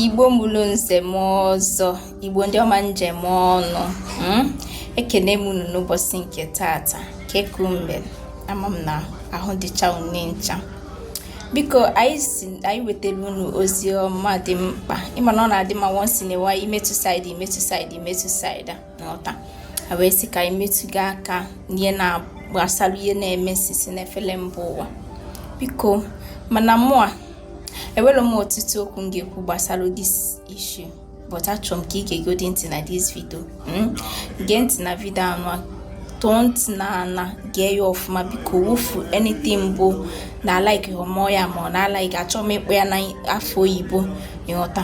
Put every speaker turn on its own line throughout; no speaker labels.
igbo mụrụ nze mụọ ọzọ igbo ndị ọma m ji eme ọnụ hmm? ekene m unu n'ụbọchị nke tata kekumbe ama m na ahụ dịcha unu ncha biko anyị sị anyị wetara unu ozi ọma dị mkpa ịma na ọ na-adị mma once in a while imetụ side imetụ side imetụ side a n'ọta a wee sị ka anyị metụga aka n'ihe na-gbasara ihe na-eme sisi n'efere mba ụwa biko mana mụ a enwere m ọtụtụ okwu m ga-ekwu gbasara this issue but achọrọ m ka ị geegodi ntị na this video hmm? gee ntị na video anụ tọọ ntị n'ana gee ya ọfụma biko wufu anything bụ na alaikihọ mụ ya ma ọ na alaiki achọghị m ịkpọ ya n'afa oyibo ịghọta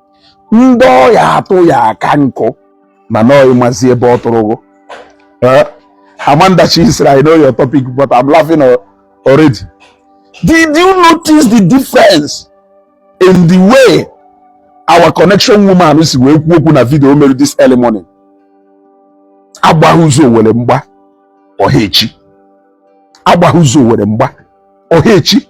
ndị ọya atụ ya aka nkụ mana ọ ịmazi ebe ọ tụrụgo Eh, Amandachi sịrị I know your topic but I'm laughing al- already did you notice the difference in the way our connection woman si wee kwuo okwu na video o mere this early morning agbaghị ụzọ owere mgba ọha echi agbaghị ụzọ owere mgba ọha echi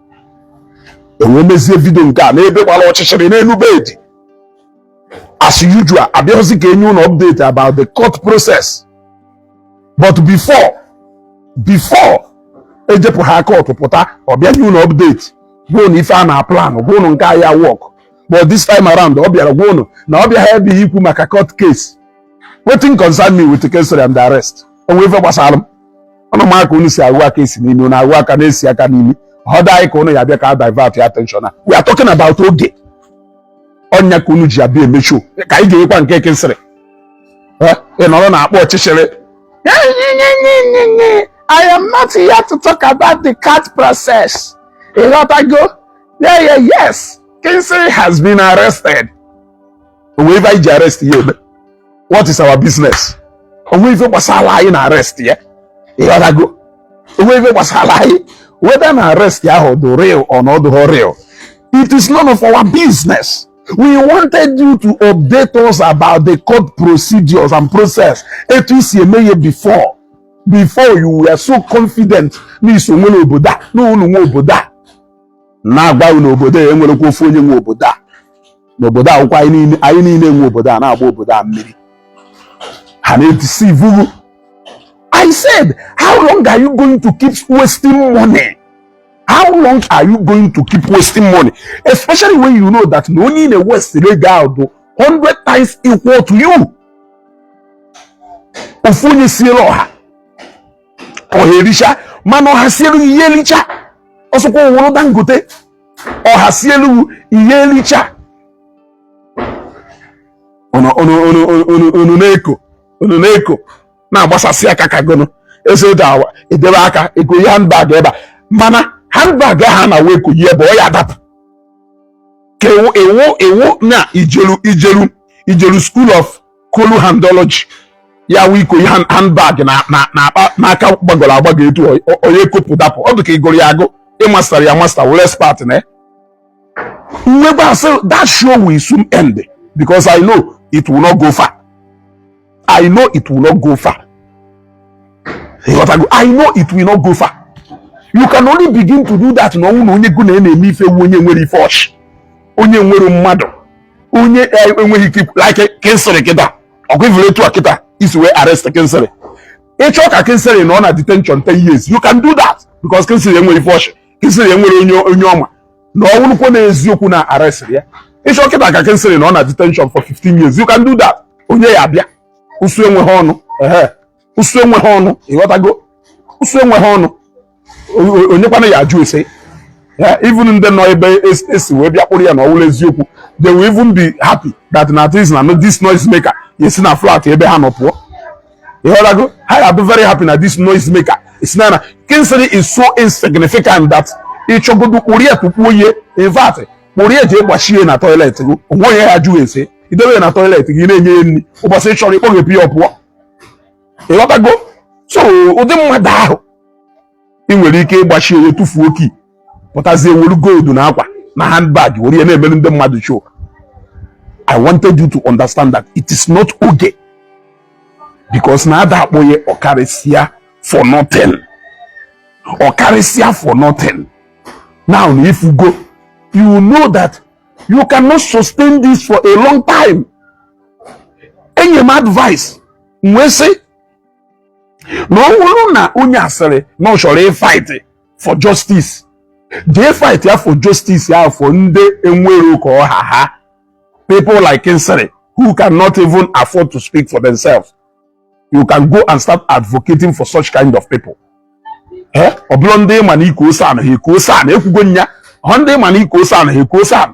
e wee mezie video nke a n'ebe gbara ọchịchịrị n'elu bed as usual abịaghịzi ka e nye ụnụ update about the court process but before before ejepụ ha court pụta ọ bịa nye ụnụ update gwa ụnụ ife a na plan gwa ụnụ nke a ya work but this time around ọ bịara gwa ụnụ na ọ bịaghị ebe ikwu maka court case wetin concern me with the case and the arrest o nwe ife gbasara m unu ma ka unu si ahụ aka esi n'imi unu ahụ aka na-esi aka n'imi ọ dị anyị ka unu ya bịa ka a divertịa attention a we are talking about oge ọ nya ka unu ji abịa eme show ka anyị ga-enwekwa nke Kingsley ị nọrọ na akpọ ọchịchịrị I am not here to talk about the court process. Ịghọtago? Yeah, yeah, yes. Kingsley has been arrested. o nwe ife anyị ji arrest ya eme what is our business o nwe ife gbasara anyị na arrest ya ịghọtago o nwe ife gbasara anyị whether na arrest ya ahụ dị real or na ọ dịghị real it is none of our business we wanted you to update us about the court procedures and process etu i si eme ihe before before you were so confident na i so nwere obodo a na unu nwe obodo a na-agwa unu obodo a enwerekwa ofu onye nwe obodo a n'obodo a ọkwa anyị niile nwe obodo a na-agba obodo a mmiri ha na-edeceive m I said how long are you going to keep wasting money how long are you going to keep wasting money especially when you know that na onye ị na-ewaste ego ahụ dị 100 times equal to you ofu onye sielu ọha ọha ericha mana ọha siere ị ya-ericha ọ sọkwa ọ wụrụ Dangote ọha sielu ị ya-elicha unu na-eko unu na-eko na-agbasasị aka ka gụnụ eze ode awa edebe aka ekoye handbag ebe a mana handbag ahụ na wee ko ebe ọ ya adapụ ka ọ wụ ọ wụ ọ wụ na i jeru i jeru i jeru school of kolu handology ya wụ iko ihe handbag na akpa n'aka gbagọrọ agbagọ etu onye kopụ dapụ ọ dị ka ị gụrụ ya agụ ị mastara ya master wụrụ expert na mmegbe asị that show will soon end because I know it will not go far I know it will not go far I know it will not go far you can only begin to do that na ọ wụ na onye gụ na ya na-eme ife wụ onye enwere ife ọ chị onye enwere mmadụ onye e, enweghị ike ikwu like Kingsley kịta ọkwa ị fụrụ etu a kịta e si wee arrest Kingsley ị chọọ ka Kingsley nọ na detention 10 years you can do that because Kingsley enweghị ife ọ chị Kingsley enwere onye onye ọ ma na ọ wụrụkwa na eziokwu na arrest ya ị chọọ kịta ka Kingsley nọ na detention for 15 years you can do that onye ya abịa ụsụ enweghị ọnụ ụsụ enweghị ọnụ ịghọtago ụsụ enweghị ọnụ onye kwanụ ya ajụ ese even ndị nọ ebe e si wee bịa kpụrụ ya na ọ wụrụ eziokwu they will even be happy that na this na this noise maker esi na flat ebe ha nọ pụọ ịghọtago ha ya be very happy na this noise maker esi na na Kingsley is so insignificant that ị chọgodu kpụrụ ya tụfuo ya in fact kpụrụ ya jee gbachie na toilet gị o nwe onye ya ajụ ese i debe ya na toilet gị na-enye ya nri ụbọchị ị chọrọ ị kpọghepụ ya ọ pụọ ịghọtago so ụdị mmadụ ahụ ị nwere ike igbachi ya tụfuo key pụtazie welu gold na akwa na handbag were ya na-emere ndị mmadụ show I wanted you to understand that it is not okay because na a da akpọ gị ọkarịsịa for nothing ọkarịsịa for nothing now na ị fụgo you know that you cannot sustain this for a long time enye m advice m wee sị na ọ bụrụ na onye a sịrị na ọ chọrọ ịfight for justice jee fight ya for justice ya for ndị enwere ka ọ ha ha people like Kingsley who cannot even afford to speak for themselves you can go and start advocating for such kind of people eh? ọ bụrụ ndị ma na i kuo SAN ha ekuo SAN ekwugo m ya ọ ndị ma na i kuo SAN ha ekuo SAN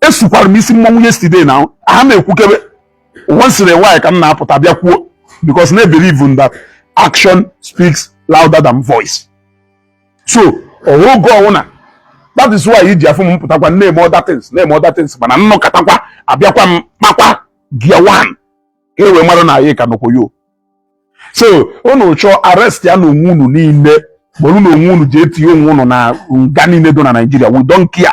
esukwara m isi mmọnwụ yesterday na aha m ekwukebe once in a while ka m na-apụta bịa kwuo because I believe in that action speaks louder than voice so ọwa oge ọwụna that is why iji afụ m pụtakwa na-eme other things na-eme other things mana m nọkatakwa abịakwa m kpakwa gear one ka e wee mara na anyị ka nọkwa yo so unu chọọ arrestịanụ onwe unu niile kpọrọnụ onwe unu jee tinye onwe unu na nga niile dị na Naịjirịa we don't care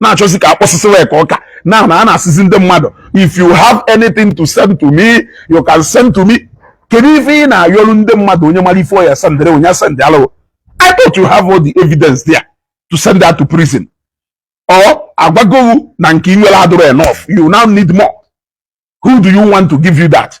na-achọzi ka akpọsịsịwa ya ka ọka na na a na-asịzi ndị mmadụ if you have anything to send to me you can send to me kedu ife ị na-ayọrụ ndị mmadụ onye mara ife ọ ya-esendere onye send alụ I thought you have all the evidence there to send her to prison or agwago wụ na nke i nwere adụrọ enough you now need more who do you want to give you that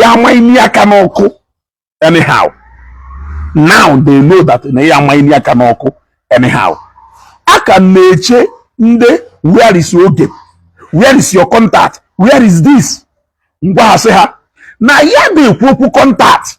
ya amanye aka n'ọkụ anyhow now they know that na ị ya amanye aka n'ọkụ anyhow a ka na-eche ndị where is oge where is your contact where is this ngwa ha sị ha na ya na-ekwu okwu contact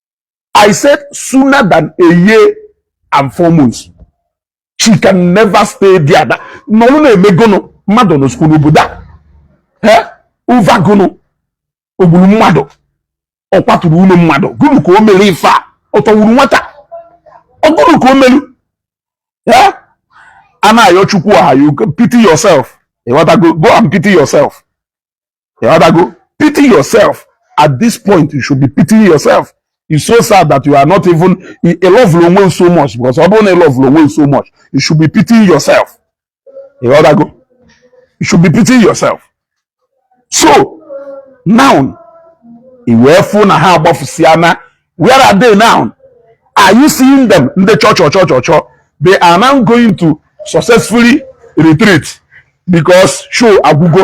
I said sooner than a year and four months. She can never stay there. That nọọrọ na-eme gụnụ mmadụ nọsịkwu n'obodo a. Eh? Over gụnụ o gburu mmadụ ọ kwaturu ụlọ mmadụ gụnụ ka o mere ife a ọ tọwuru nwata ọ gụnụ ka o meru eh? a na-ayọ chukwu aha you pity yourself ịghọtago go and pity yourself ịghọtago pity yourself at this point you should be pitying yourself it's so sad that you are not even a love onwe so much because ọ bụrụ na ị love onwe so much you should be pitying yourself ịghọtago you should be pitying yourself so now i wee fụ na ha agbafusịa na where are they now are you seeing them ndị chọ chọ chọ chọ chọ they are now going to successfully retreat because show agwụgo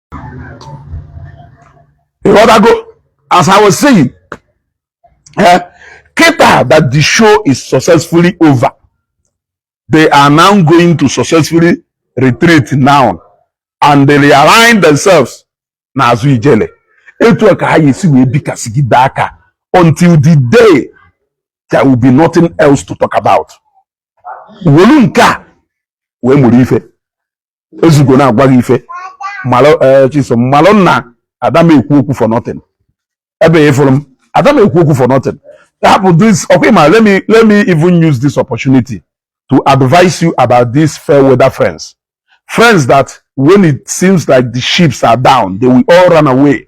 ịghọtago as i was saying eh, kịta that the show is successfully over they are now going to successfully retreat now and they realign themselves n'azụ ijele etu a ka ha ya-esi wee bikasịgide aka until the day there will be nothing else to talk about wolu nke a wee mụrụ ife ezugo na-agwa gị ife malụ eh, chisom malụ na ada m ekwu okwu for nothing ebe a ị fụrụ m ada m ekwu okwu for nothing hapụ this ọkwa ịma let me let me even use this opportunity to advise you about these fair weather friends friends that when it seems like the ships are down they will all run away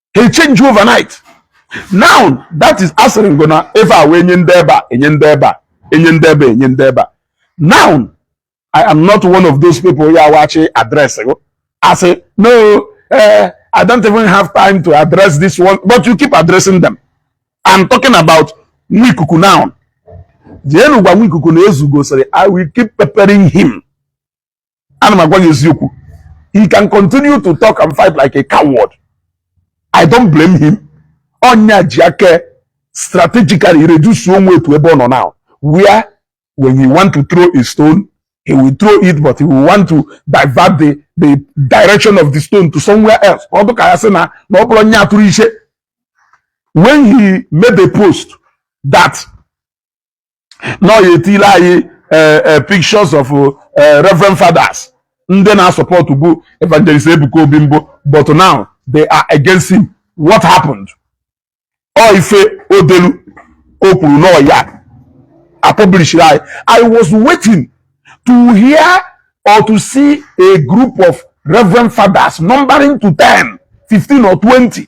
he change overnight now that is asịrị ngo na efe a wee nye ndị ebe a enye ndị ebe a enye ndị ebe a enye ndị ebe a now i am not one of those people ya wachi address go asị no uh, i don't even have time to address this one but you keep addressing them i'm talking about nwa ikuku now jeenu gwa nwa ikuku na ezugo sịrị i will keep peppering him ana m agwa gị eziokwu he can continue to talk and fight like a coward i don't blame him ọ ya ji aka strategically reduce onwe ya to ebe ọ nọ now where when he want to throw a stone he will throw it but he will want to divert the the direction of the stone to somewhere else ọ dị ka a sị na na ọ bụrọ ya tụrụ ife when he made a post that na ọ ya-etiile anyị eh, eh, pictures of eh, reverend fathers ndị na-asọpọtụbu evangelist Ebuka Obi mbụ but now they are against him what happened ọ ife o delu o kwuru na ọ ya-apublishiri anyị I was waiting to hear or to see a group of reverend fathers numbering to 10 15 or 20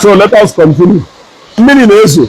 So let us continue. Mmiri na-ezo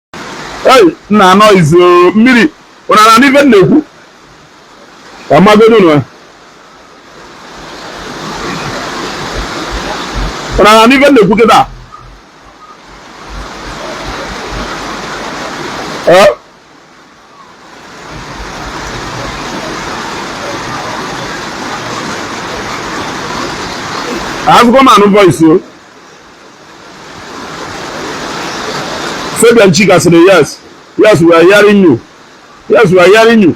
ei nna noise mmiri unu ana-anụ ife m na-ekwu ka m magodu unu ana-anụ ife m na-ekwu kịta azụkọ m anụ voice o Fabian Chika sịrị yes yes we are hearing you yes we are hearing you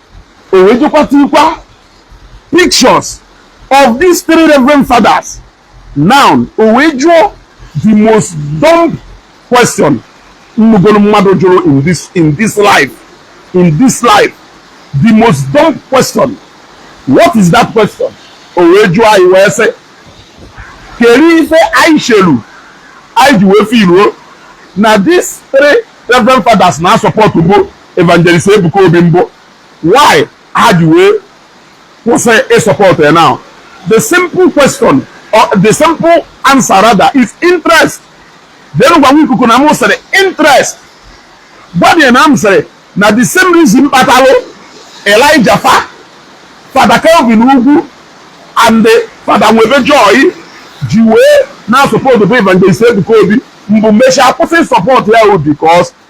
o wee jekwa tiikwa pictures of these three reverend fathers now o wee jụọ the most dumb question m nụgolu mmadụ jụrụ in this in this life in this life the most dumb question what is that question o wee jụọ anyị wee sị kedu ife anyị chelu anyị ji wee filuo na these three reverend fathers na-asọpọtụbu Evangelist Ebuka Obi mbụ why ha ji wee kwụsị ịsọpọtụ ya now the simple question or the simple answer rather is interest then gwa ikuku na m sịrị interest gwadị ya na m sịrị na the same reason kpatalụ Elijah fa Fada Kelvin Ugwu and Fada Nwebe Joy ji wee na-asọpọtụbu Evangelist Ebuka Obi mbụ mechaa kwụsị ịsọpọtụ ya ọ because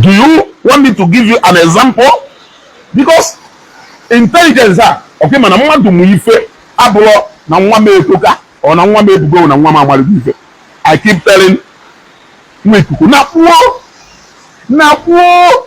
Do you want me to give you an example? Because intelligence a ọkwa ịma na mmadụ mụ ife abụrọ na nwa m etoka or na nwa m ebugo na nwa m amarịgo ife I keep telling nwa ikuku na kwuo na kwuo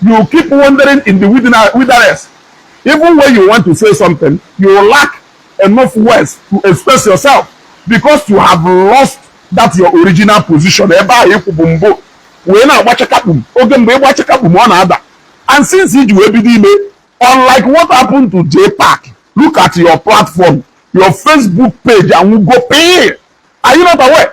You keep wandering in the wilderness. Even when you want to say something, you lack enough words to express yourself because you have lost that your original position. Ebe ahụ ịkwụbu mbụ wee na-agba chakakpum oge mgbe ịgba chakakpum ọ na-ada and since iji wee bido ime unlike what happened to J Park look at your platform your Facebook page anwụgo pee are you not aware?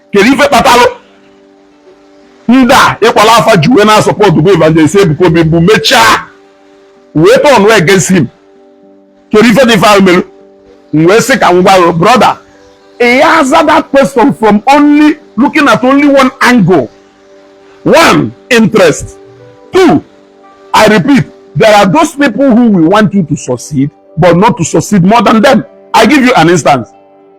kedu ife kpatalụ ndị a ịkpọlụ afa ji wee na-asupportbu evangelist Ebuka Obi mbụ mechaa wee turn wee against him kedu ife dị ife ahụ mere m wee sị ka m gwa gị brother he answered that question from only looking at only one angle one interest two i repeat there are those people who will want you to succeed but not to succeed more than them i give you an instance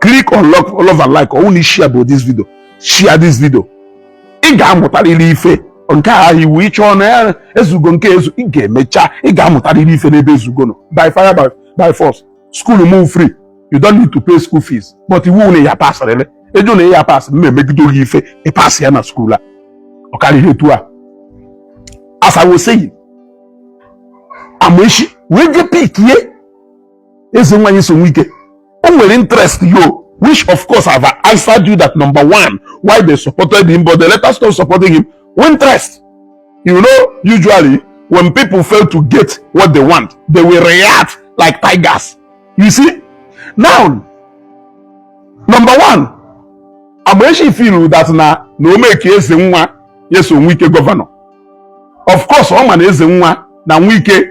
click on love, love and like ọwụ na share bụ this video share this video ị ga-amụtarịrị ife nke a iwu ịchọọ na ya ezugo nke ezu ị ga-emecha ị ga-amụtarịrị ife n'ebe ezugo nọ by fire by, by force school m bụ free you don't need to pay school fees but iwu na ya passrịrị ị jụ na ya pass m emegido gị ife ị pass ya na school a ọ karịghị etu a as I was saying Amaechi wee jee pickie eze nwanyị so nwike o nwere interest yo which of course I've answered you that number one why they supported him but they let us stop supporting him interest you know usually when people fail to get what they want they will react like tigers you see now number one Amaechi feel that na na o make eze nwa yes onwike governor of course ọ ma na eze nwa na nwike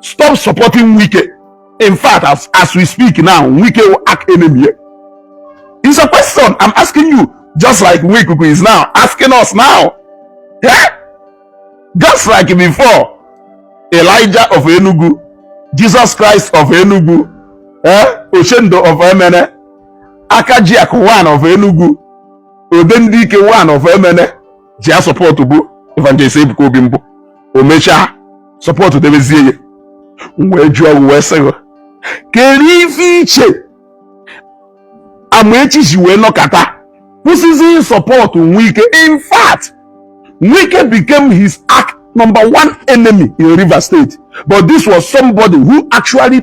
stop supporting wike in fact as, as we speak now wike will act enemy here it's a question i'm asking you just like wike is now asking us now yeah? just like before elijah of enugu jesus christ of enugu eh? oshendo of emene akajiak one of enugu odendike one of emene ji ya supportbu evangelist Ebuka Obi mbụ o mechaa supportdebezie ya wee jụọ gị wee sị gị kedu ife iche Amaechi ji wee nọkata kwụsịzi ịsupport Wike in fact Wike became his arch number one enemy in Rivers State but this was somebody who actually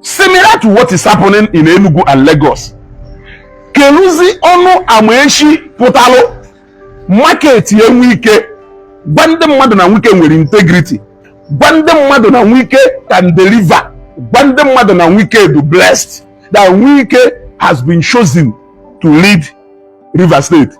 similar to what is happening in Enugu and Lagos keluzi ọnụ Amaechi pụtalụ marketie Wike gwa ndị mmadụ na Wike nwere integrity gwa ndị mmadụ na Wike can deliver gwa ndị mmadụ na Wike dụ blessed that Wike has been chosen to lead Rivers State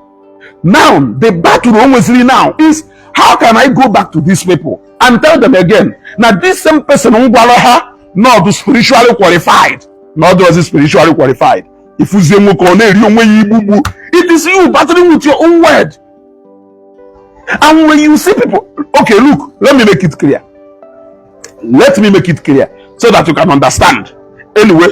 now the battle o nweziri now is how can i go back to these people and tell them again na this same person m gwara ha na ọ bụ spiritually qualified na ọ dịrọzi spiritually qualified ifuzie nwoke ọ na-eri onwe ya igbugbu it is you battling with your own word and when you see people okay look let me make it clear let me make it clear so that you can understand anyway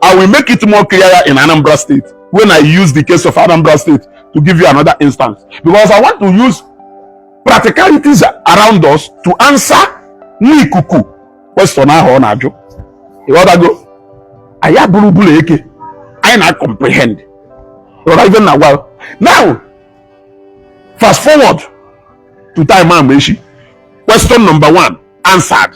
I will make it more clear in Anambra State when I use the case of Anambra State to give you another instance. Because I want to use practicalities around us to answer nwa ikuku question ahụ ọ na-ajụ. Ịghọtago? Anyị abụrọ bụla eke. Anyị na-comprehend. Ịghọta ife na agwa. Now, fast forward to time Amaechi. Question number one answered.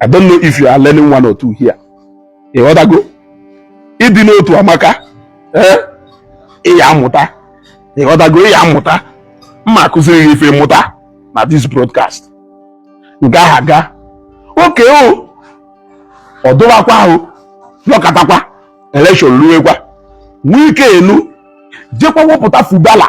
I don't know if you are learning one or two here. Ịghọtago? Ịdị n'otu amaka. Eh? Ịya amụta. Ịghọtago ịya amụta. M ma-akụziri gị ife mụta na this broadcast. Nke ahụ aga. Okay o. Ọ dụwakwa ahụ. Nọkatakwa. Election luwekwa. Wike enu jekwa wepụta Fubara.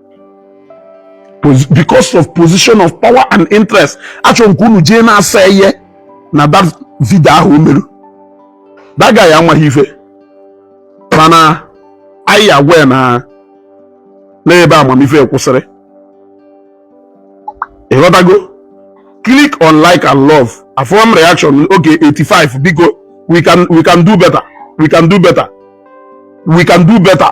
because of position of power and interest achọrọ m ka unu jee na-asa ihe na that video ahụ o meru that guy amaghị ife mana anyị agwa na n'ebe amamife kwụsịrị ịghọtago click on like and love afụ m reaction okay 85 biko we can we can do better we can do better we can do better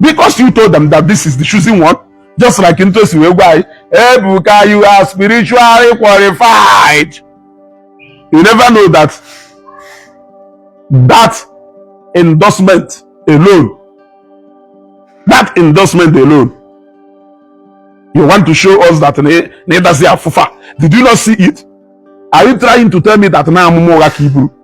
because you told them that this is the choosing one just like ntu esi wee gwa anyị ebuka you are spiritually qualified you never know that that endorsement alone that endorsement alone you want to show us that na ịdazi afụfa did you not see it are you trying to tell me that na amụma ụgha ka iburu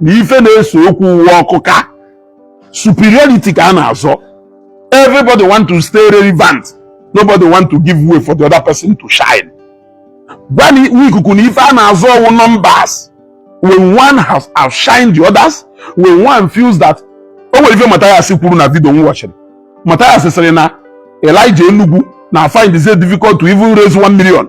na ife na-ese okwu uwe ọkụ ka superiority ka a na-azọ everybody want to stay relevant nobody want to give way for the other person to shine gwa nwa ikuku na ife a na-azọ wụ numbers when one has outshined the others when one feels that o nwere ife Mathias kwuru na vidio m wachiri Mathias sịrị na Elijah Enugu na find it difficult to even raise one million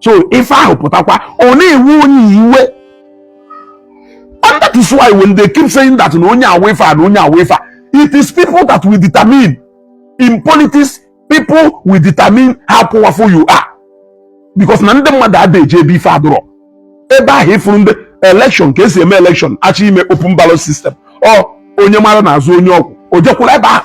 so ife ahụ pụtakwa ọ na-ewe onye iwe and that is why when they keep saying that na onye a wụ ife a na onye a wụ ife a it is people that will determine in politics people will determine how powerful you are because na ndị mmadụ ada eje ebe ife adụrọ ebe ahụ ị fụrụ ndị election ka e si eme election a chọọ ime open ballot system ọ onye mara n'azụ onye ọ kwụ o jee kwụrụ ebe ahụ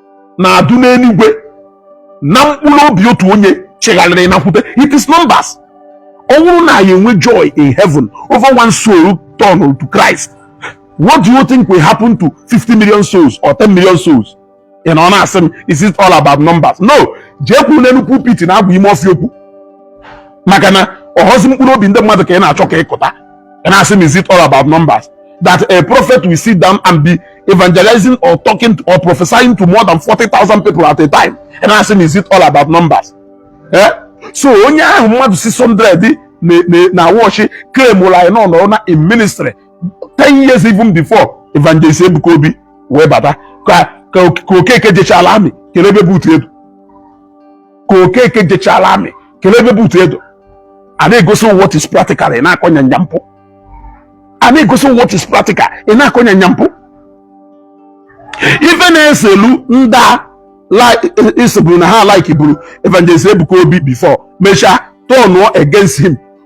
na-adụ n'eluigwe na mkpụrụ obi otu onye chegharịrị nakwute it is numbers ọ bụrụ na anyị enwe joy in heaven over one soul turned to Christ what do you think will happen to 50 million souls or 10 million souls ị nọ na-asị m is it all about numbers no jee kwụrụ n'elu pulpit na-agwa ime ọfịa okwu maka na ọhọzi mkpụrụ obi ndị mmadụ ka ị na-achọ ka ịkụta And I say, is it all about numbers? That a prophet will sit down and be evangelizing or talking to, or prophesying to more than 40,000 people at a time. And I say, is it all about numbers? Eh? So onye ahụ mmadụ 600 na-awatch claimụlụ na ya anọna in ministry 10 years even before evangelist Ebuka Obi wee bata ka okeke jechala army kelee ebe boot ị dọ ka okeke jechara army kelee ebe boot ị dọ a na-egosi what is practical ị na-akọ nyanya mpụ a na-egosi what is practical ị na-akọ nyanya mpụ even eselu ndị ị sịburu e, e na ha likeburu evangelist ebuka obi before mechaa turn against him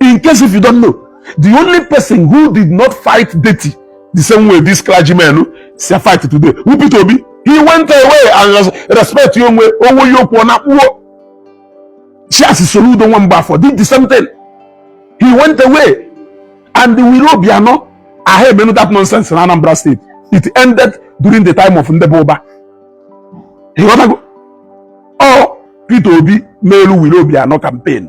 in case if you don't know the only person who did not fight dirty the same way this clergyman si fight today who Peter Obi he went away and respect ya onwe owo ya okwu na kpuo chiasi Soludo Nwambafo did the same thing he went away and the Wiro Obiano aha emenu that nonsense in Anambra State it ended during the time of Ndebe Oba ịghọtago ọ Peter Obi n'elu Wiro Obiano campaign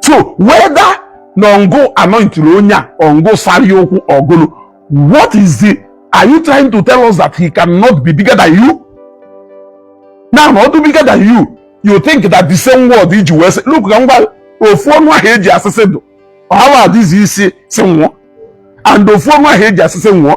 so whether na ọ ngụ anointiri onye a ọ ngụ sari ụkwụ ọ gụnụ what is it are you trying to tell us that he cannot be bigger than you now na ọdụ bigger than you you think that the same word iji wee sị look ka ngwa ofu ọnụ ahụ eji asị sị dụ ọhawa adịzi isi si nwụọ and ofu ọnụ ahụ eji asị sị nwụọ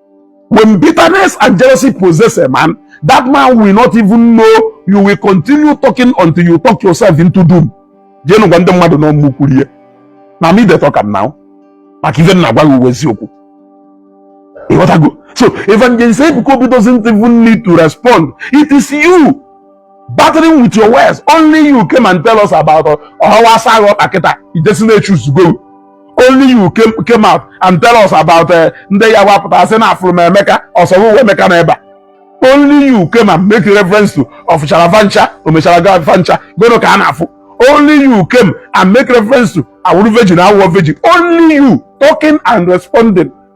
When bitterness and jealousy possess a man, that man will not even know you will continue talking until you talk yourself into doom. Jeenụ gwa ndị mmadụ na mụ kwuru ihe na me dey talk am now maka ife m na-agwa gị wụ eziokwu ị ghọtago so evangelist Ebuka Obi doesn't even need to respond it is you battling with your words only you came and tell us about ọhawa asa agha ọkpa kịta ijesi na-echuzugo only you came out and tell us about uh, ndị ya wapụta asị na afụrụ m Emeka ọsọrọ uwe Emeka na ebe a only you came and make reference to ọ fụchara va ncha o mechara ga va ncha goro ka a na-afụ only you came and make reference to awụrụ virgin awụọ virgin only you talking and responding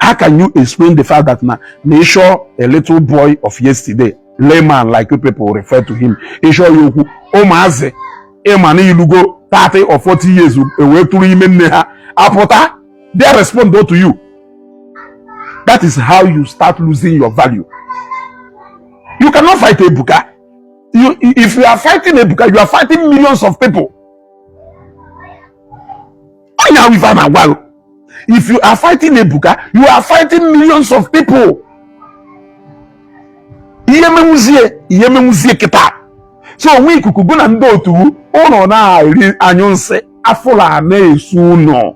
how can you explain the fact that na na ịchọ a little boy of yesterday layman like you people refer to him ịchọ ya okwu ụmụazị ịma na ilugo 30 or 40 years ewee tụrụ ime nne ha apụta they respond to you that is how you start losing your value you cannot fight ebuka you, if you are fighting ebuka you are fighting millions of people onye ahụ ife a na-agwa gị if you are fighting Ebuka you are fighting millions of people ihe menwuzie ihe menwuzie kịta so onwe ikuku gụ na ndị otu unu na-eri anyụ nsị afụla na-esu unu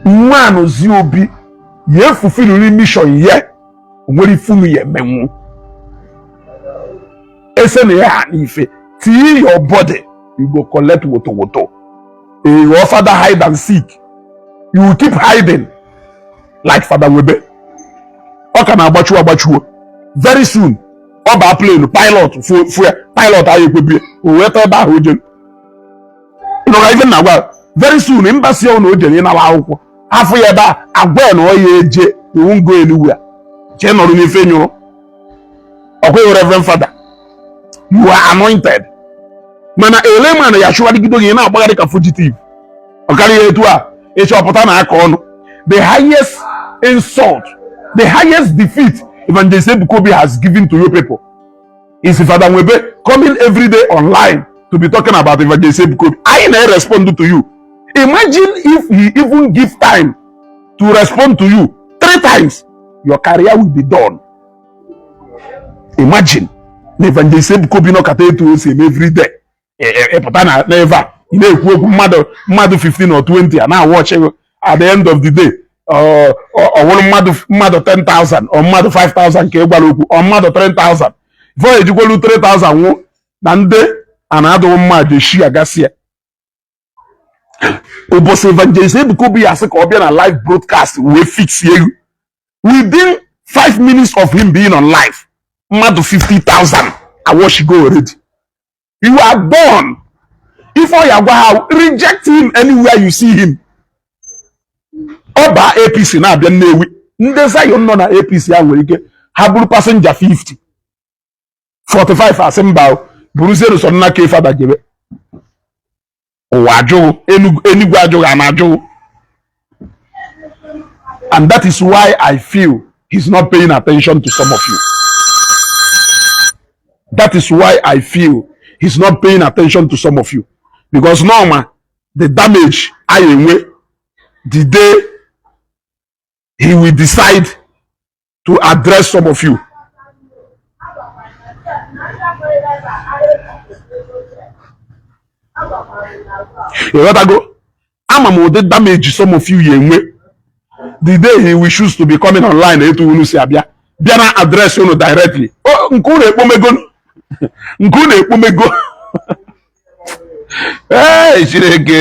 nwa Anozie Obi ya efulfilliri mission ya o nwere ife unu ya emenwu ese na ya ha n'ife till your body you go collect woto woto you go father hide and seek you keep hiding like father Webe ọ ka na-agbachuo agbachuo very soon ọ baa plane pilot fụ e pilot aya ekwe bie o wee tọ ebe ahụ o jere ị nụgo ife m na-agwa very soon embassy ọnụ o jere ịnara akwụkwọ a fụ ya ebe a agwa ya na ọ ya eje you won't go anywhere jee nọrọ n'ife ị nyụrụ ọkwa ị wụ reverend father you are anointed mana layman ya achụgharịgido gị na-agbagharị ka fugitive ọ karịghị etu a ịchọpụta na aka ọnụ the highest insult the highest defeat evangelist Ebuka Obi has given to you people is Fada Nwebe coming every day online to be talking about Evangelist Ebukobi. I na respond to you. Imagine if he even give time to respond to you three times, your career will be done. Imagine na Evangelist Ebukobi nọkata etu o si eme every day. ị pụta na n'ebe a ị na-ekwu okwu mmadụ mmadụ 15 or 20 ana-awatch gị at the end of the day ọ wụrụ mmadụ mmadụ 10,000 or mmadụ 5,000 ka ị gwara okwu or mmadụ 3,000 before ejikwelu 3,000 nwụ na ndị a na-adụghị mmadụ eshi agasị ya ụbọchị evangelist Ebuka Obi ya asị ka ọ bịa na live broadcast wee fix you within five minutes of him being on live mmadụ 50,000 awatchigo already you are born ife ọ ya agwa ha wụ reject him anywhere you see him ọ baa ABC na-abịa Nnewi ndị Zion nọ na ABC a nwere ike ha bụrụ passenger 50 45 asị mba bụrụzie n'ụsọ nna ka fada jebe ụwa ajụ gị enuigwe ajụ gị ana ajụ gị and that is why I feel he's not paying attention to some of you that is why I feel he's not paying attention to some of you because n'ọ ma the damage a ya enwe the day he will decide to address some of you. ịghọtago ama m ụdị damage some of you ya enwe the day he will choose to be coming online etu unu si abịa bịa na-address unu directly nke unu ekpomego nke unu ekpomego ee Chineke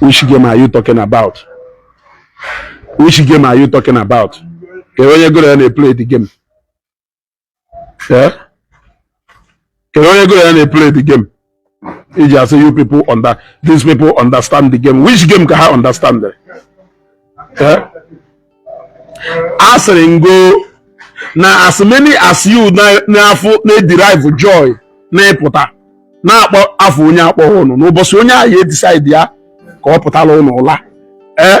Which game are you talking about? Which game are you talking about? Kedụ onye gụrụ ya na-eplay the game. Eh? Kedụ onye gụrụ ya na-eplay the game. i ji asị these people understand the game which game ka ha understand eh? asịrị m gụ na as many as you afụ na-ederive joy na ịpụta na-akpọ afa onye akpọghị unu n'ụbọchị onye ahụ ya edecide ya ka ọ pụtara unu ụla ee eh?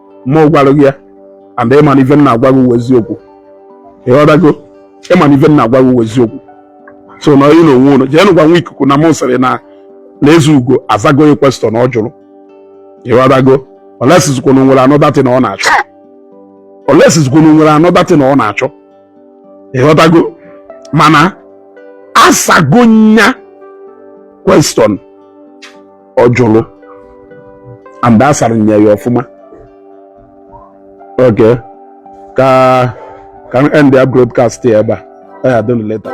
mụ a gwara gị ya and ị ma na ife m na-agwa gị wụ eziokwu ịghọtago ị ma na ife m na-agwa gị wụ eziokwu so na onye na onwe unu jeenụ gwa nwa ikuku na mụ sịrị na Ezeugo azago ya question na ọ jụrụ ịghọtago unless zịkwa na e nwere another thing na ọ na-achọ unless zịkwa na e nwere another thing na ọ na-achọ ịghọtago mana asago nya question ọ jụrụ and a sara nya ya ọfụma okay ka ka m endie broadcast ya ebe a ọ ya adịnụ later